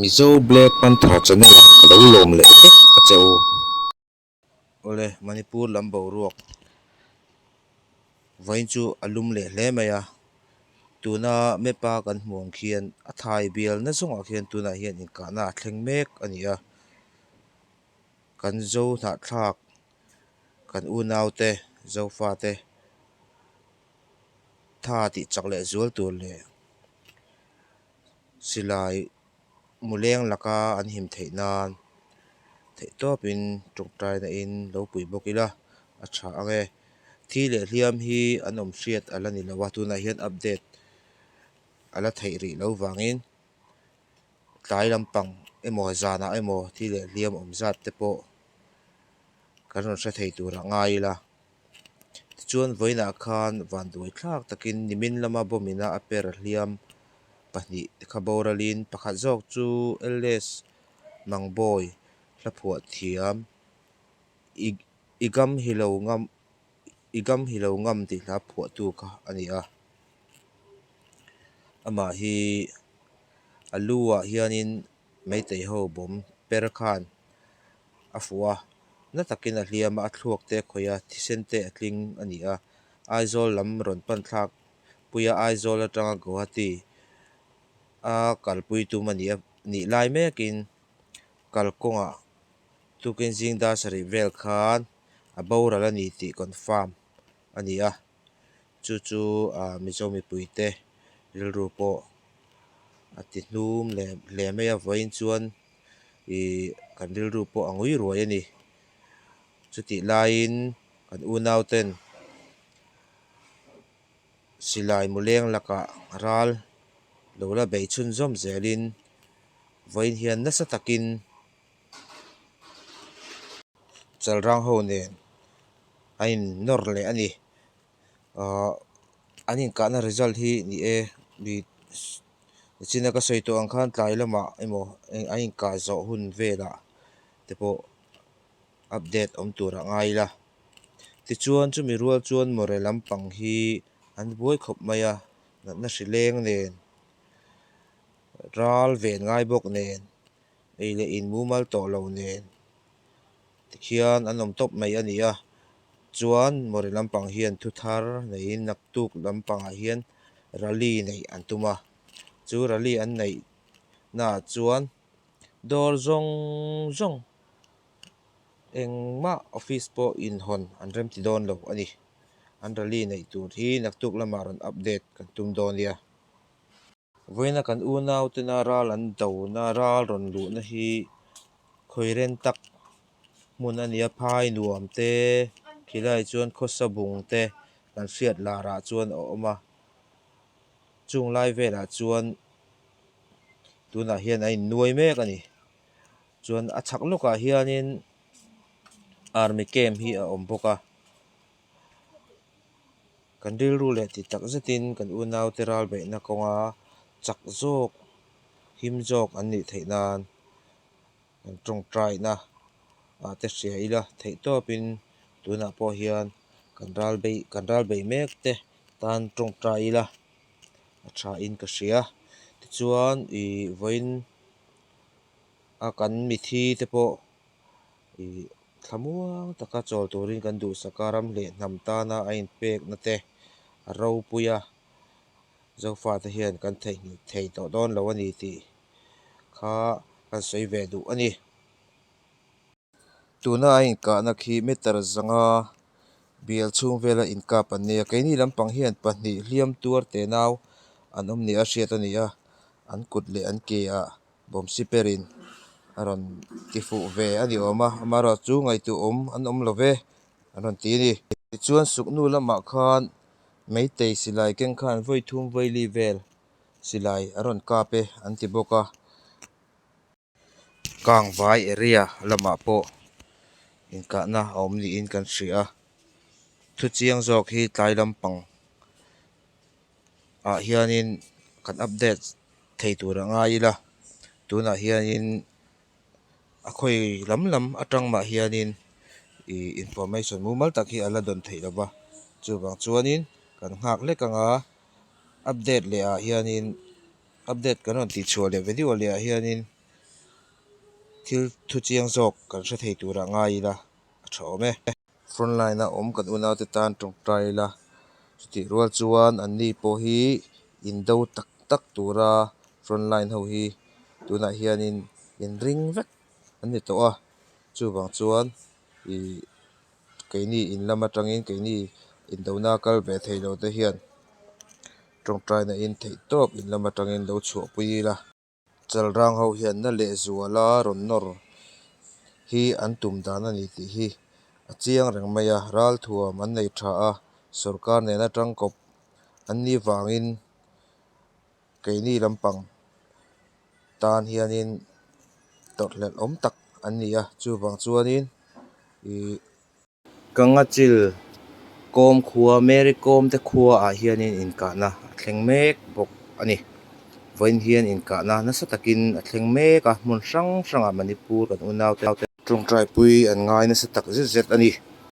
Mizo Black Panther Channel ah ka lo lawm leh vek a che u. Awle Manipur lam boruak vawiin chu a lum leh hle mai a, tuna map a kan hmuh ang khian a thai bialna zawngah khian tunah hian inkahna a thleng mek a ni a, kan zo hnahthlak, kan unaute, zofate tha tih chak leh zual tur leh. Silai muleng laka an him theih nan theih tawp in tawngtaina in lo pui bawk ila a tha ange. Thi leh hliam hi an awm hriat ala ni lo a tunah hian update ala theih rih lo vangin tlai lampang emaw zanah emaw thi leh hliam awm zat te pawh kan rawn hre thei tur ah ngai ila. Tichuan vawiinah khan van duai thlak takin nimin lama bawmina a per hliam pahnih te kha boralin pakhat zawk chu Elders Mangbawi hlaphuah thiam i i gam hi lo ngam i gam hi lo ngam tih hla phuahtu kha a ni a. Amah hi a lu ah hianin. Meitei ho bawm per khan a fuh a, na takin a hliam a, a thluak te a khawih a, thisen te a tling a ni a, Aizawl lam rawn panthlak pui a, Aizawl atanga Guwahati a kalpui tum a nih nih lai mekin kalkawngah tukin zing dar sarih vel khan a boral a ni tih confirm a ni a, Chu chu Mizo mipui te rilru pawh a ti hnum leh hle mai a vawiin chuan ih kan rilru pawh a ngui ruai a ni. Chutih laiin kan unauten silai muleng lakah ral lo la bei chhun zawm zelin vawiin hian nasa takin Chalrang ho nen a innawr leh a ni. An inkahna result hi ni e, mi China ka sawi tawh ang khan tlai lamah emaw a inkah zawh hun velah te pawh update awm tur a ngai ila. Tichuan chumi rual chuan Mawre lampang hi an buai khawp mai a, natna hri leng nen, ral ven ngai bawk nen, ei leh in mumal tawh lo nen, hian an awm tawp mai a ni a, chuan Mori lampang hian thu thar neiin naktuk lampangah hian rally neih an tum a, chu rally an neih naah chuan dawr zawng zawng eng mah office pawh inhawn an remti dawn lo a ni, an rally neih tur hi naktuk lamah rawn update kan tum dawn nia. Vawiin a kan unautena ral an dona ral rawn luhna hi khawirên tak hmun a nia, phai nuam te, khilai chuan khawsa bung te kan hriat larah chuan a awm a, chung lai velah chuan tunah hian a innuai mek a ni, chuan a chhak lawkah hianin army camp hi a awm bawk a. Kan rilru leh ti tak zetin kan unaute ralbeihna kawnga chak zawk, him zawk an nih theih nan kan tawngtaina ah te hria ila theih tawpin tunah pawh hian kan ralbeih kan ralbeih mek te tan tawngtai ila a thain ka hria. Tichuan ih vawiin a kan mithi te pawh. thlamuang taka chawl turin kan duhsaka ram hleh hnam tana a inpekna te a ropui a, Zofate hian kan theihnghilh thei tawh dawn lo a ni tih kha kan sawi ve duh a ni. Tuna a inkahna khi meter zanga bial chhung vela inkap an nei a, keini lampang hian pahnih hliam tuar te nau an awm ni a hriat a ni a, an kut leh an ke ah-- bawmsiperin a rawn ti fuh ve a ni awm a amaherawhchu chu ngaihtuh awm an awm lo ve an rawn ti a ni tichuan suknu lamah khan meitei silai keng khan vaithum vaili vel silai a rawn kap e an ti bawk a kangvai area lamah pawh inkahna a awm niin kan hria thuchiang zawk hi tlai lampang-- ah hianin kan update thei tur a ngai ila tunah hianin a khawi lam lam atang mah hianin ih information mumal tak hi a la dawn theih lova chuvang chuanin kan nghak lek anga update leh ah hianin update kan rawn tih chhuah leh ve diau leh ah hianin thil thu chiang zawk kan hre thei tur a ngai ila a tha awm e. frontline a awm kan unau te tan tawngtai ila chutih rual chuan an ni pawh hi in do tak tak tura frontline ho hi tunah hianin in ring vek an ni tawh a chuvang chuan ih keini in lam atangin keini in do na kal ve thei lote hian tawngtai na in theih tawp in lam atangin lo chhuahpui ila. Chalrang ho hian na lehzuala rawn nawr hi an tum dan a ni tih hi a chiang reng mai a, ral thuam an nei tha a, sorkar nen atang kawp an ni vangin keini lampang tan hianin tawrhhlelhawm tak an ni a, chuvang chuanin ih. Kangachil kawm khua Mary Kom te khua ah hianin inkahna a thleng mek bawk a ni. Vawiin hian inkahna nasa takin a thleng mek a, hmun hrang hrangah Manipur kan unau te, Tawngtaipui an ngai nasa tak zet zet a ni.